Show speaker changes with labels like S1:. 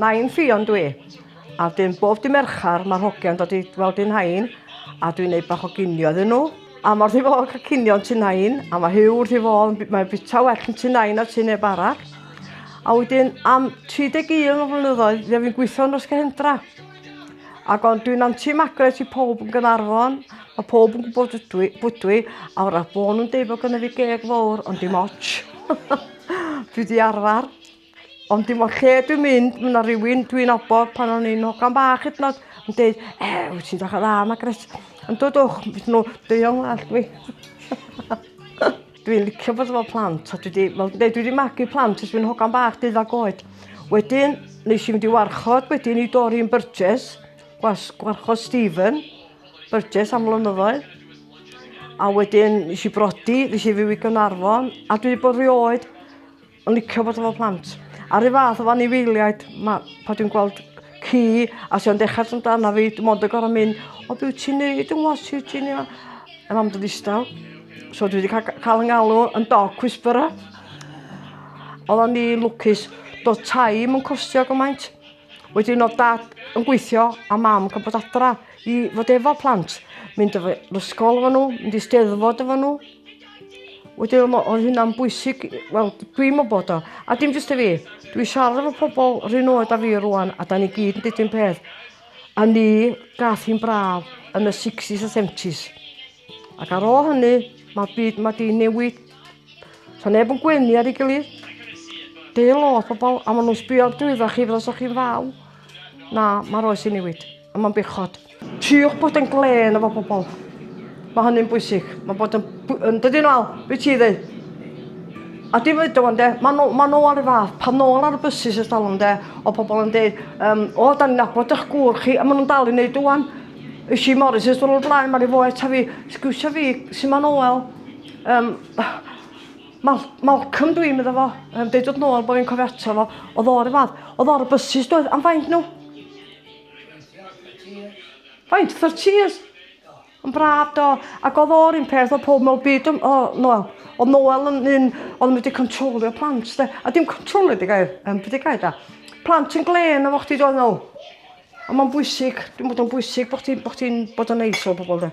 S1: Nain Ffion dwi, a dyn bob dy merchar mae'r hogiau'n dod i weld un hain, a dwi'n neud bach o ginio iddyn nhw. A mor ddi fod cael cinio'n tu nain, a mae hiw wrth i fod, mae'n bita well yn tu nain a tu neb arall. A wedyn am 31 o flynyddoedd, fe fi'n gweithio yn Ysgahendra. Ac ond dwi'n anti-magret i pob yn Gynarfon. Mae pob yn gwybod ydw i, bwydw i, a o'r rhaid bod nhw'n deud bod gynnu fi geg fawr, ond dim ots. dwi di arfer. Ond dim ond lle dwi'n mynd, mae yna rhywun dwi'n obod pan o'n i'n hogan bach hyd nod yn deud, e, wyt ti'n dach o dda, Magret. Yn dod o'ch, beth nhw, deion all dwi. Dwi'n licio bod efo plant a dwi 'di wel dwi dwi 'di magu plant ers fi'n hogan bach deuddag oed. Wedyn nesh i mynd i warchod wedyn i Doreen Burgess gwas gwarchod Stephen Burgess am flynyddoedd. A wedyn nesh i brodi nesh i fyw i Gnarfon a dwi 'di bod rioed yn licio bod efo plant. A'r un fath efo anifeiliaid ma' pan dwi'n gweld ci a sy o'n dechra dod amdana fi dwi mond yn gor'o' mynd o be' wyt ti'n neud yn ngwa's ti wyt ti'n ia? A mam do' ddistaw. So dwi 'di ca- ca- ca'l 'yn ngalw yn dog whisperer. Oddon ni lwcus do'dd tai 'im yn costio gymaint. Wedyn o'dd dad yn gweithio a mam yn bod adra i fod efo plant. Mynd efo i ysgol efo n'w mynd i steddfod efo n'w. Wedyn o' mo- oedd hynna'n bwysig i- wel dwi'm yn bod o a dim jyst i fi dwi siarad efo pobol 'r un oed â fi rŵan a 'dan ni gyd yn deud un peth a ni gath hi'n braf yn y sixties a seventies. Ac ar ôl hynny, mae'r byd mae di newid. So neb yn gwenu ar ei gilydd. Deu lot pobl, a maen nhw'n sbio ar drwyddo chi fel os o'ch chi'n faw. Na, mae'r oes i newid, a mae'n bechod. Tiwch bod yn glen efo pobl. Mae hynny'n bwysig. Mae bod yn, yn dydy nhw al, beth ti ddweud? A dim fyd o'n de, mae nhw, ma nhw ar y fath, pan nôl ar y bysus ers talwm de, o pobl yn dweud, um, o, da ni'n nabod eich gŵr chi, a maen nhw'n dal i wneud o'n. Ys i Morris ys dwrnod blaen, mae rhi fo eto fi. Sgwsio fi, sy'n ma'n Noel. Um, Mal Malcolm dwi'n meddwl fo, um, deud oedd Noel bod fi'n cofio ato fo, oedd o'r y fath, oedd o'r y bysys doedd, am faint nhw? Faint, 30 years? Yn braf do, ac oedd o'r un peth o pob mewn byd, o, o Noel. Oedd Noel yn un, oedd yn mynd i controlio plant, de. A dim controlio di gair, um, beth di gair da. Plant yn glen o fo chdi doedd nhw. Ond ma'n bwysig, dwi'n bod o'n bwysig bod ti'n bod ti'n bod o'n neis o pobl 'de?